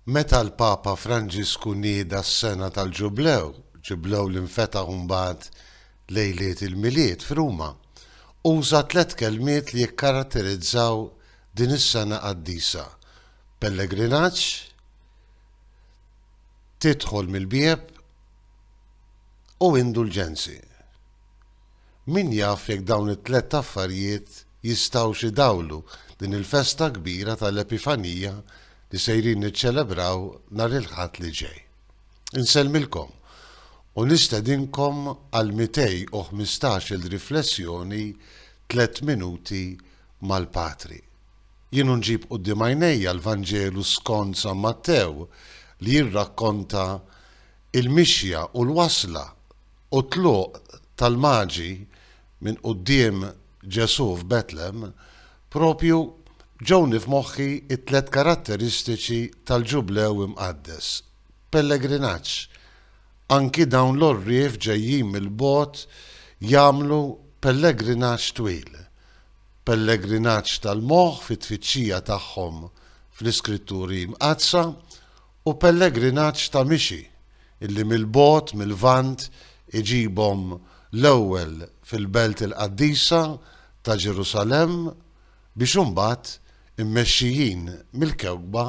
Meta l-Papa Franġisku nieda s-sena tal-Ġublew, Ġublew li nfetaħ imbagħad lejliet il-Milied f'Ruma, uża tliet kelmiet li jikkaratterizzaw din is-sena qaddisa, pellegrinaġġ, tidħol mill-bieb u indulġenzi. Min jaf jekk dawn it-tlett affarijiet jistgħux idawlu din il-festa kbira tal-Epifanija li sejrin niċċelebraw nhar il-Ħadd li ġej. Insellmilkom u nistedinkom għall-215-il riflessjoni Tlett Minuti mal-Patri. Jien u nġib quddiem għajnejja l-Vanġelu skond San Mattew li jirrakkonta il-mixja u l-wasla u t-tluq tal-Maġi minn quddiem Ġesù f'Betlem, proprju ġewni f'moħħi t-tliet karatteristiċi tal-Ġublew Imqaddes, pellegrinaġġ, anki dawn l-għorrief ġejjin mill-bogħod jagħmlu pellegrinaġġ twil, pellegrinaġġ tal-moħħ fit-tfittxija tagħhom fl-Iskritturi Mqaddsa u pellegrinaġġ ta' mixi illi mill-bogħod mil-Lvant iġibhom l-ewwel fil-Belt il-Qaddisa ta' Ġerusalemm biex imbagħad, immexxijin mill-kewkba,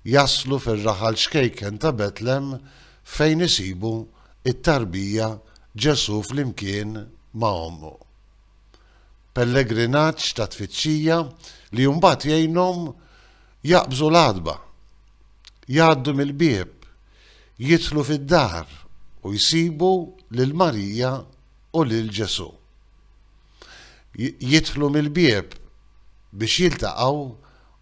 jaslu fir-raħal ċkejken ta' Betlem fejn isibu t-tarbija Ġesù flimkien ma' ommu. Pellegrinaġġ ta' tfittxija li mbagħad jgħinhom Jaqbżu l-għatba. Jgħaddu mill-bieb. Jidħlu fid-dar u jsibu lil Marija u lil Ġesù. Jidħlu mill-bieb biex jiltaqgħu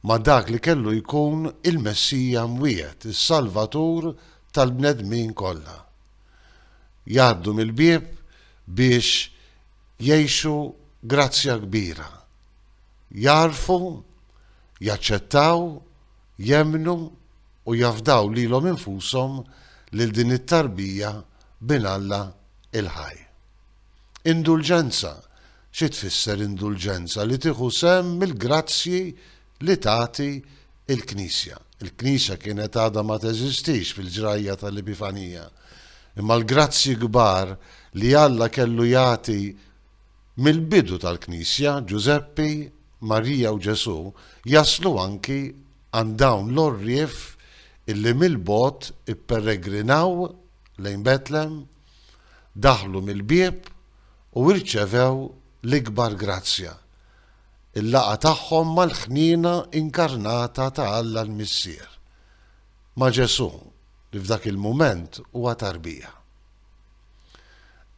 ma' dak li kellu jkun il-Messija mwiegħed, is-Salvatur tal-bnedmin kollha. Jgħaddu mill-bieb biex jgħixu grazzja kbira. Jagħrfu. jaċċettaw, jemmnu u jafdaw lilhom infushom lil din it-tarbija b'Bin Alla il-Ħaj. Indulġenza, xi tfisser indulġenza? Li tieħu sehem mill-grazzji li tagħti l-Knisja. Il-Knisja kienet għadha ma teżistix fil-ġrajja tal-Epifanija, imma l-grazzji kbar li Alla kellu jagħti Mill-bidu tal-Knisja, Ġużeppi, Marija u Ġesù jaslu anki għand dawn l-għorrief illi mill-bogħod ipperegrinaw lejn Betlem, daħlu mill-bieb u rċevew l-ikbar grazzja, il-laqgħa tagħhom mal-Ħniena inkarnata ta' Alla l-Missier, ma' Ġesù li f'dak il-mument huwa tarbija.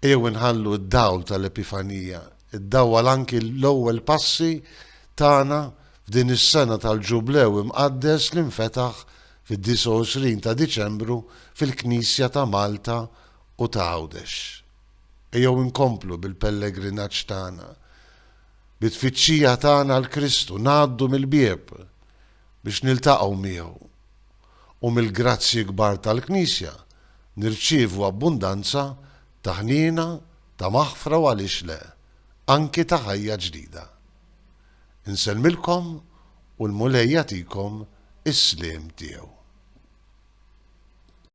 Ejjew inħallu d-dawl tal-Epifanija iddawwal anki l-ewwel passi tagħna f'din is-sena tal-Ġublew imqaddes li nfetaħ fid-29 ta' Diċembru fil-Knisja ta' Malta u ta' Għawdex. Ejjew inkomplu bil-pellegrinaġġ tagħna, bit-tfittxija tagħna għal Kristu, ngħaddu mill-bieb biex niltaqgħu miegħu. u mill-grazzji kbar tal-Knisja nirċievu abbundanza ta' ħniena, ta' maħfra u għaliex le, anki ta' ħajja ġdida. Insellmilkom u l-Mulej jagħtikom is-sliem tiegħu.